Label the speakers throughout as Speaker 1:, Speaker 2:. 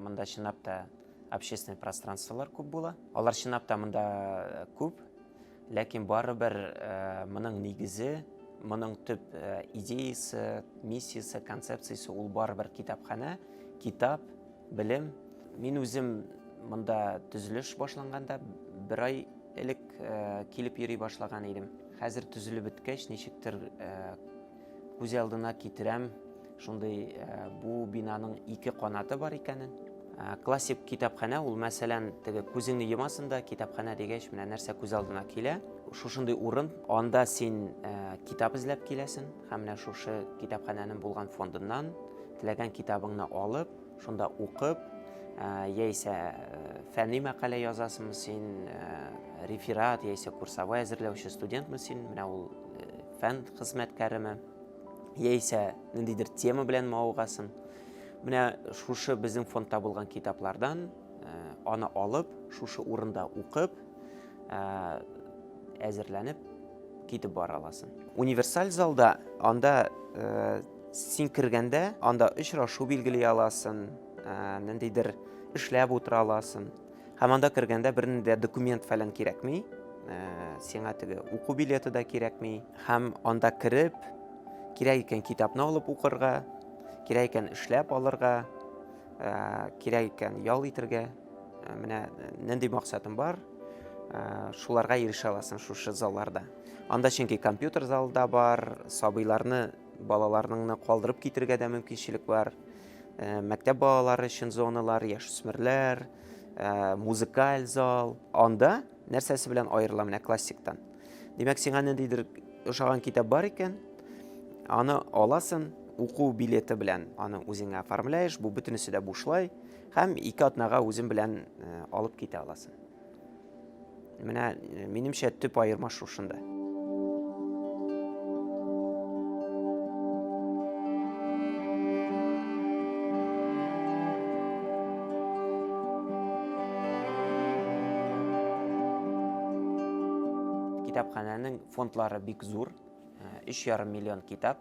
Speaker 1: мында чынлап та общественный пространстволар күп була алар чынлап та мында күп Ләкин барыбер э, моның нигезе, моның төп э, идеясы, миссиясе, концепциясе ул барыбер китапханә, китап, белем. Мин үзем монда төзелеш башланганда бер ай элек э, килеп йөри башлаган идем. Хәзер төзелеп беткәч, ничектер Күз алдына китерәм, шундый бу бинаның ике канаты бар икәнен. Классик китапханә ул, мәсәлән, теге күзеңне йомасың да, китапханә дигәч, менә нәрсә күз алдына килә. Шушындый урын, анда син китап эзләп киләсең һәм менә шушы китапханәнең булган фондыннан теләгән китабыңны алып, шунда укып, яисә фәнни мәкалә язасыңмы син, реферат яисә курсовой әзерләүче студентмы син, менә ул фән хезмәткәреме, яисә ниндидер тема белән мавыгасын. Менә шушы безнең фондта булган китаплардан э, аны алып, шушы урында укып, э, әзерләнеп китеп бара аласың. Универсаль залда анда э, син кергәндә, анда очрашу билгели аласың, ниндидер эшләп утыра аласың. Һәм анда кергәндә бернинди дә документ фәлән кирәкми. Э, сиңа теге уку билеты да кирәкми. Һәм анда кереп, кирәк икән китапны алып укырга, кирәк икән эшләп алырга, э, кирәк икән ял итергә. Э, менә нинди максатым бар, шуларга ирешә аласың шушы залларда. Анда чөнки компьютер залы да бар, сабыйларны Балаларныңны калдырып китергә дә мөмкинчелек бар. Э, мәктәп балалары өчен зоналар, яшүсмерләр, э, музыкаль зал. Анда нәрсәсе белән аерыла менә классиктан? Димәк, сиңа ниндидер ошаган китап бар икән, аны аласын, уку билеты белән аны үзеңә оформляешь, бу бөтенесе дә бушлай, һәм ике атнага үзем белән э, алып китә аласың. Менә э, минемчә төп аерма шушында. Китапханәнең фондлары бик зур, 3,5 э, миллион китап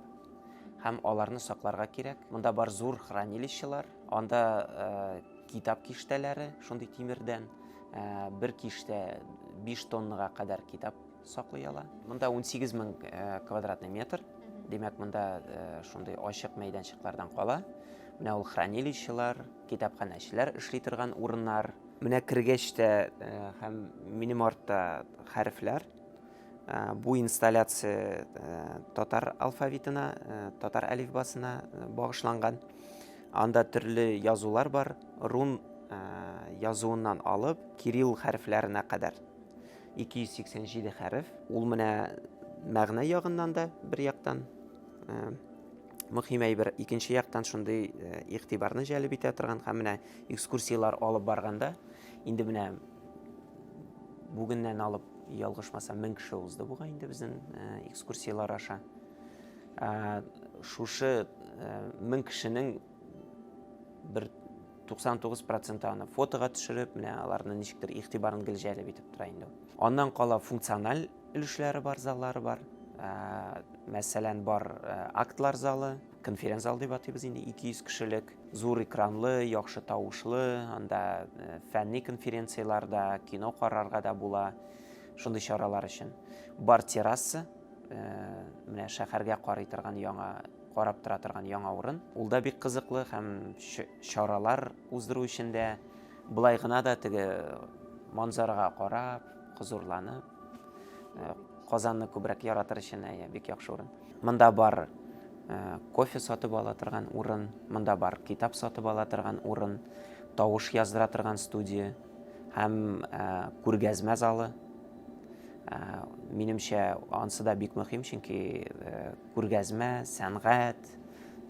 Speaker 1: һәм аларны сакларга кирәк. Монда бар зур хранилищелар, Анда китап киштәләре, шундый тимердән, бер киштә 5 тоннага кадәр китап саклый ала. Монда 18 мең квадратный метр, димәк, монда шундый ачык мәйданчыклардан кала. Менә ул хранилищелар, китапханәчеләр эшли торган урыннар. Менә кергәч тә һәм минем артта хәрефләр. Бу инсталляция татар алфавитына, татар әлифбасына багышланган. Анда төрле язулар бар, рун язуыннан алып, кирилл хәрефләренә кадәр. 287 хәреф. Ул менә мәгънә ягыннан да бер яктан мөһим әйбер, икенче яктан шундый игътибарны җәлеп итә торган һәм менә экскурсияләр алып барганда, инде менә бүгеннән алып Ялгышмасам, мең кеше узды буга инде безнең экскурсиялар аша. Шушы мең кешенең бер 99 проценты аны фотога төшереп, менә аларны ничектер игътибарын гел җәлеп итеп тора инде. Аннан кала функциональ өлешләре бар, заллары бар. Мәсәлән, бар актлар залы, Конференц-зал дип атыйбыз инде, 200 кешелек. Зур экранлы, яхшы тавышлы, анда фәнни конференцияләр дә, кино карарга да була. Шундый чаралар өчен. Бар терраса, менә шәһәргә карый торган яңа, карап тора торган яңа урын. Ул да бик кызыклы һәм чаралар уздыру өчен дә, болай гына да теге манзарага карап, хозурланып, Казанны күбрәк яратыр өчен, әйе, бик яхшы урын. Монда бар кофе сатып ала торган урын, монда бар китап сатып ала торган урын, тавыш яздыра торган студия һәм күргәзмә залы. Минемчә, ансы да бик мөһим, чөнки күргәзмә, сәнгать,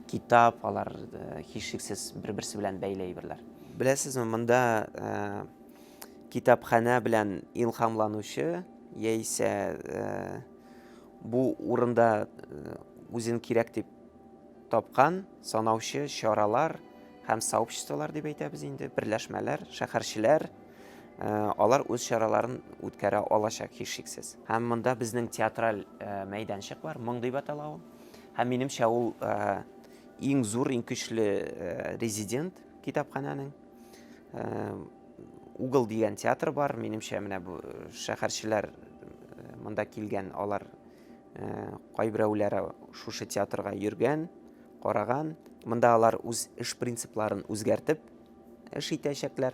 Speaker 1: китап, алар һичшиксез бер-берсе белән бәйле әйберләр. Беләсезме, монда китапханә белән илһамланучы яисә Бу урында үзен кирәк дип тапкан санаучы чаралар һәм сообществолар дип әйтәбез инде, берләшмәләр, шәһәрчеләр, алар үз чараларын үткәрә алачак һичшиксез. Һәм монда безнең театраль мәйданчык бар, моң дип атала ул. Һәм минемчә ул иң зур, иң көчле резидент китапханәнең. Угол дигән театр бар, минемчә менә бу э, шәһәрчеләр э, монда килгән, алар э, кайберәүләре шушы театрга йөргән, караган. Монда алар үз эш принципларын үзгәртеп эш итәчәкләр.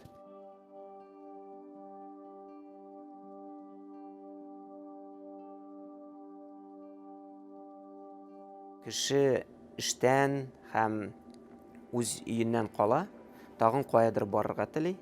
Speaker 1: Кеше эштән һәм үз өеннән кала, Тагын каядыр барырга тели.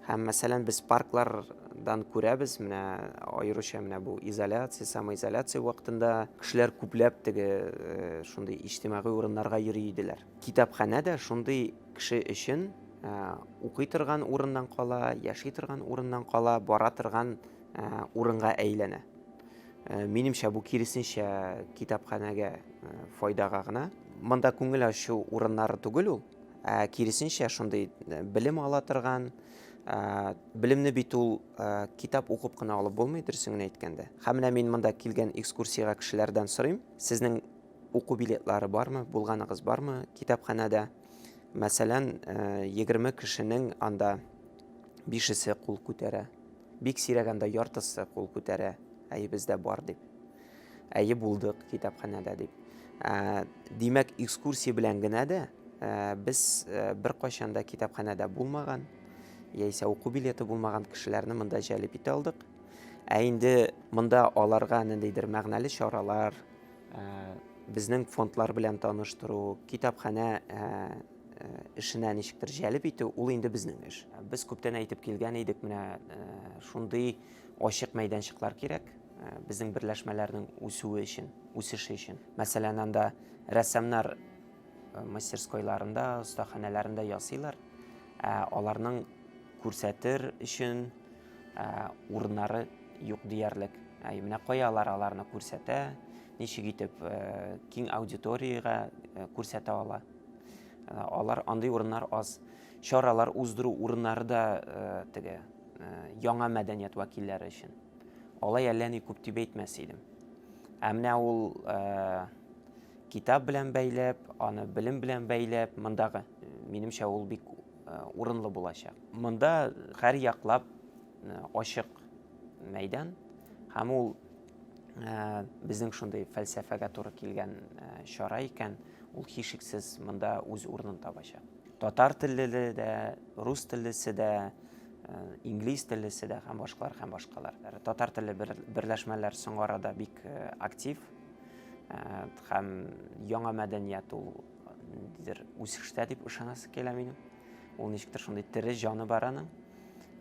Speaker 1: Һәм, мәсәлән, без парклардан күрәбез, менә аеруча менә бу изоляция, самоизоляция вакытында кешеләр күпләп теге э, шундый иҗтимагый урыннарга йөри иделәр. Китапханә дә шундый кеше өчен э, укый торган урыннан кала, яши торган урыннан кала, бара торган э, урынга әйләнә. Э, минемчә бу киресенчә китапханәгә э, файдага гына монда күңел ачу урыннары түгел ул Ә, киресенчә, шундый э, белем ала торган, ә, белемне бит ул ә, китап укып кына алып булмый, дөресен генә әйткәндә. Һәм менә мин монда килгән экскурсиягә кешеләрдән сорыйм, сезнең уку билетлары бармы, булганыгыз бармы китапханәдә? Мәсәлән, э, егерме кешенең анда бишесе кул күтәрә. Бик сирәгәндә яртысы кул күтәрә, әйебездә бар дип. Әйе, булдык китапханәдә, дип. Ә, димәк, экскурсия белән генә дә ә, без ә, беркайчан да китапханәдә булмаган, яисә уку билеты булмаган кешеләрне монда җәлеп итә алдык. Ә инде монда аларга ниндидер мәгънәле чаралар, ә, безнең фондлар белән таныштыру, китапханә ә, ә, эшенә ничектер җәлеп итү, ул инде безнең эш. Без күптән әйтеп килгән идек, менә ә, шундый Ачык мәйданчыклар кирәк безнең берләшмәләрнең үсүе өчен, үсеше өчен. Мәсәлән, анда рәссамнар мастерскойларында, остаханәләрендә ясыйлар. Аларның күрсәтер өчен урыннары юк диярлек. Менә кая алар аларны күрсәтә, ничек итеп киң аудиториягә күрсәтә ала. Алар андый урыннар аз. Чаралар уздыру урыннары да теге яңа мәдәният вәкилләре өчен. Алай әллә ни күп дип әйтмәс идем. Ә менә ул китап белән бәйләп, аны белем белән бәйләп, мондагы, минемчә, ул бик урынлы булачак. Монда һәр яклап ачык мәйдан һәм ул безнең шундый фәлсәфәгә туры килгән чара икән, ул һичшиксез монда үз урынын табачак. Татар теллеле дә, рус теллесе дә, инглиз теллесе дә һәм башкалар һәм башкалар. Татар телле берләшмәләр соңгы арада бик актив һәм яңа мәдәният ул ниндидер үсештә дип ышанасы килә минем. Ул ничектер шундый тере җаны бар аның.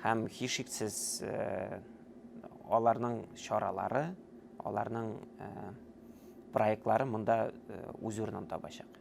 Speaker 1: Һәм һичшиксез аларның чаралары, аларның проектлары монда үз урынын табачак.